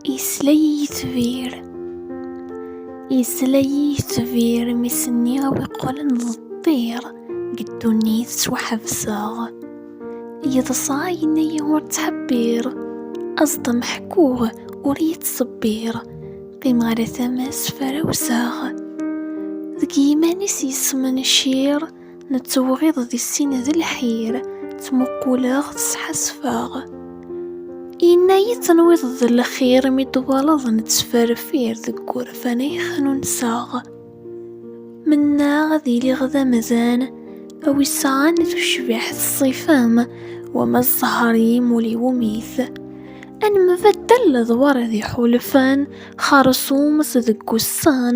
Yesla-yi tbir Yesla-yi tbir mi s-nniɣ weqqlen d ṭṭir Deg ddunit ttwaḥebseɣ Yeḍsa yenna-yi ur ttḥebbir Aẓ-d ameḥkuɣ ur iyi-ttṣebbir Qqimeɣ ar tama-s frawseɣ Deg yiman-is yesmencir Nettewɣiḍ di sin d lḥir, ttmuquleɣ, tesḥasfeɣ. Yenna-yi tenwiḍ d lxir mi twalaḍ nettferfir deg wurfan ay xnunseɣ. Mennaɣ ad iliɣ d amdan, a wi sɛan tucbiḥt ṣṣifa-m, wama zzher-im ur iwumi-t. Ad nembaddal ledwar d iḥulfan, xersum-s deg wussan,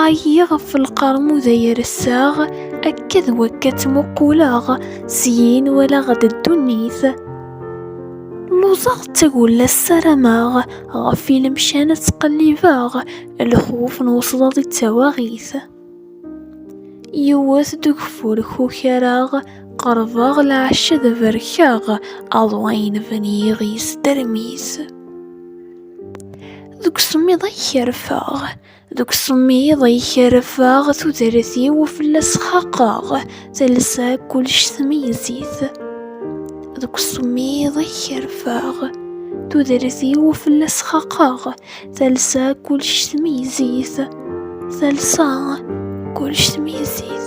Ɛyiɣ ɣef lqermud ay ressaɣ, akka d wakka ttmuqquleɣ, syin walaɣ-d ddunit. Luẓeɣ d tagulla ssarameɣ, ɣef ilemcan ad ttqellibeɣ, lxuf n wesḍaḍ i d tawaɣit. Yewwet-d ugeffur kukareɣ, qerbeɣ lɛecc ad berkeɣ, aḍu ay nben yiɣis termis. Deg usemmiḍ ay kerfeɣ, deg usemmiḍ ay kerfeɣ, tudert-iw fell-as xaqeɣ, talsa kullec tmeyyez-it. Deg usemmiḍ ay kerfeɣ, tudert-iw fell-as xaqeɣ, talsa kullec tmeyyez-it. Talsa kullec tmeyyez-it.